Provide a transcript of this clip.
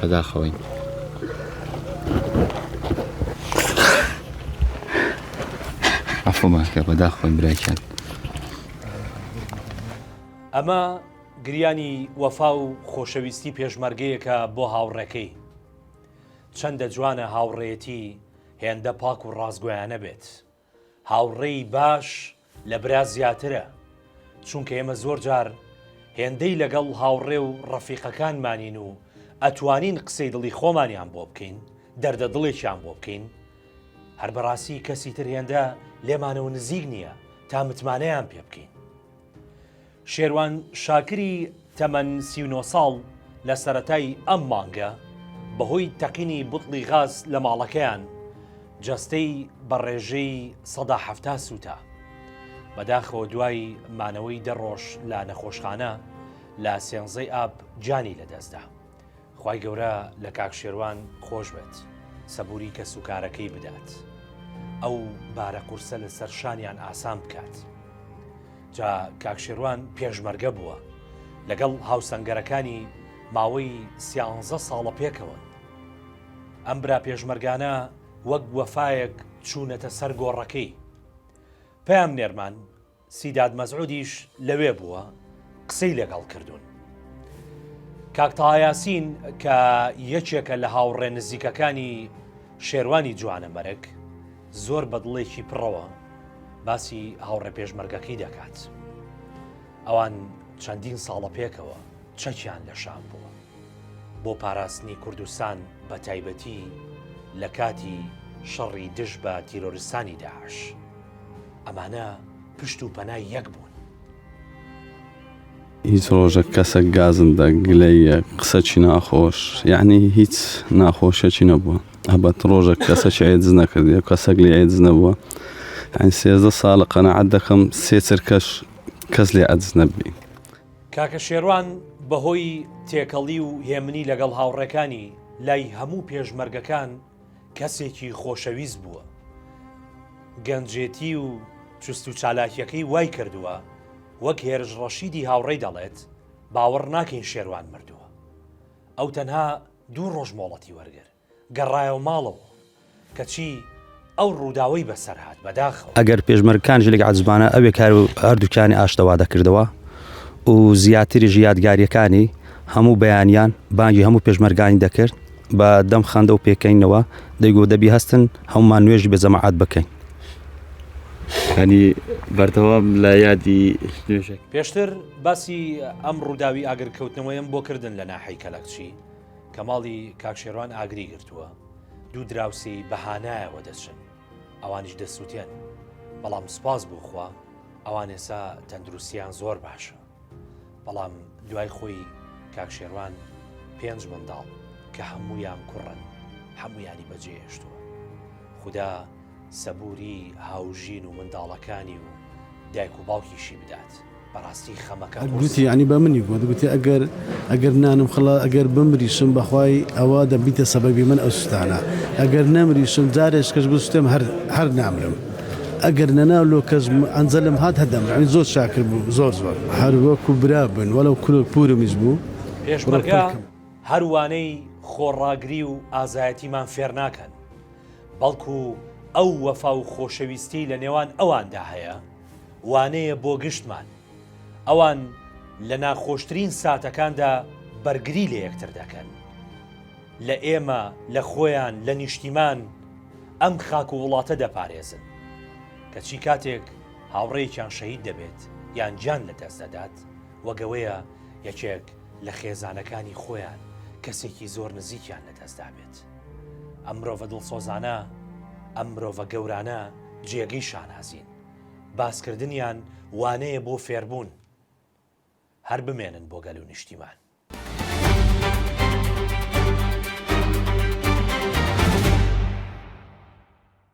بەداخەوەین. عەفومان کە بەداخەوەین براکیان. ئەمە گریانی وەفا و خۆشەویستی پێشمەرگەیەکە بۆ هاوڕێکەی. چەندە جوانە هاوڕێیەتی هێندە پاک و ڕاستگۆیانە بێت. هاوڕێی باش لە برا زیاترە، چونکە ئێمە زۆر جار هێندەی لەگەڵ هاوڕێ و ڕەفیقەکانمانین و ئەتوانین قسەی دڵی خۆمانیان بۆ بکەین، دەردە دڵێکیان بۆ بکەین، هەر بەڕاستی کەسی تر هێندە لێمانەوە نزیک نییە تا متمانەیان پێ بکەین. شێروان شاکری تەمەن سی و نۆ ساڵ لە سەرەتای ئەم مانگە بەهۆی تەقینی بوتڵی غاز لە ماڵەکەیان جەستەی بە ڕێژەی سەدا حەفتا سووتا. بەداخەوە دوای مانەوەی دە ڕۆژ لە نەخۆشخانە لە سێنزەی ئاب گیانی لەدەستدا. خوای گەورە لە کاک شێروان خۆش بێت سەبوری کەس و کارەکەی بدات ئەو بارە قورسە لەسەر شانیان ئاسان بکات جا کاک شێروان پێشمەرگە بووە لەگەڵ هاوسەنگەرەکانی ماوەی سیانزە ساڵە پێکەوە ئەم برا پێشمەرگانە وەک وەفاەک چوونەتە سەر گۆڕەکەی پام نێرمان سیداد مەسعودیش لەوێ بووە قسەی لەگەڵ کردوون. کاک تەهایاسین کە یەکێکە لە هاوڕێ نزیکەکانی شێروانی جوانە مەرگ زۆر بەدڵێکی پڕەوە باسی هاوڕێ پێشمەرگەکەی دەکات. ئەوان چەندین ساڵە پێکەوە چەکیان لە شام بووە. بۆ پاراستنی کوردستان بە تایبەتی لە کاتی شەڕی دژ بە تیرۆرستانی داعش ئەمانە پشت و پەنای یەک بوون. هیچ ڕۆژەک کەسەک گازندە گلەیە قسەچی ناخۆش یعنی هیچ ناخۆشەکی نەبووە هەبەت ڕۆژەک کەسەکی ئەیدز نەکردی کەسەک لێ ئەیدز نەبووە ئەین سێزدە ساڵە قەنەعەت دەکەم سێ چرکەش کەس لێ ئەدز نەبی کاکە شێروان بەهۆی تێکەڵی و هێمنی لەگەڵ هاوڕێکانی لای هەموو پێشمەرگەکان کەسێکی خۆشەویست بووە. گەنجێتی و چوست و چالاکیەکەی وای کردووە وەک هێرش ڕەشیدی هاوڕێی دەڵێت باوەڕ ناکەین شێروان مردووە. ئەو تەنها دوو ڕۆژ مۆڵەتی وەرگر. گەڕایەوە ماڵەوە کەچی ئەو ڕووداوەی بەسەر هات بەداخەوە. ئەگەر پێشمەرگەکان ژنێک عەزیزمانە ئەوێ کار و هەردووکیانی ئاشتە وا دەکردەوە و زیاتریش یادگاریەکانی هەموو بەیانیان بانگی هەموو پێشمەرگانی دەکرد بە دەم خەندە و پێکەنینەوە دەیگۆت دەبی هەستن هەموومان نوێژی بە جەماعەت بکەین. یانی بەردەوام لە یادی نوێژەکە. پێشتر باسی ئەم ڕووداوی ئاگرکەوتنەوەیم بۆ کردن لە ناحەی کەلەکچی، کەماڵی کاک شێروان ئاگری گرتووە، دوو دراوسێی بە هانایەوە دەچن، ئەوانیش دەسووتێن، بەڵام سوپاس بۆ خوا ئەوان ئێستا تەندروستییان زۆر باشە، بەڵام دوای خۆی کاک شێروان پێنج منداڵ کە هەموویان کوڕن هەموویانی بەجێهێشتووە، خودا سەبوری هاوژین و منداڵەکانی و دایک و باوکیشی بدات بەڕاستی خەمەکە گوتی یعنی بە منی گوت گوتی ئەگەر ئەگەر نانم خڵە ئەگەر بمریشم بەخوای ئەوە دەبیتە سەبەبی من ئەو سوستانە ئەگەر نەمریشم جارێش کەش بستێم هەر هەر نامرم ئەگەر نەناو لۆ کەس ئەنجەلم هات هەدەم ئەوی زۆر شاکر بوو زۆر زۆر هەر وەکو برا بن وەلەو کورۆک پورمیش بوو پێشمەرگە هەروانەی خۆڕاگری و ئازایەتیمان فێر ناکەن. بەڵکو ئەو وەفا و خۆشەویستیەی لە نێوان ئەواندا هەیە وانەیە بۆ گشتمان ئەوان لە ناخۆشترین ساتەکاندا بەرگری لە یەکتر دەکەن لە ئێمە لە خۆیان لە نیشتیمان ئەم خاک و وڵاتە دەپارێزن کەچی کاتێک هاوڕێکیان شەهید دەبێت یان جان لە دەست دەدات وەگەوەیە یەکێک لە خێزانەکانی خۆیان کەسێکی زۆر نزیکیان لەدەستدابێت. ئەم مرۆڤە دڵسۆزانە ئەم مرۆڤە گەورانە جێگەی شانازین باسکردنیان وانەیە بۆ فێربوون هەر بمێنن بۆ گەل و نیشتیمان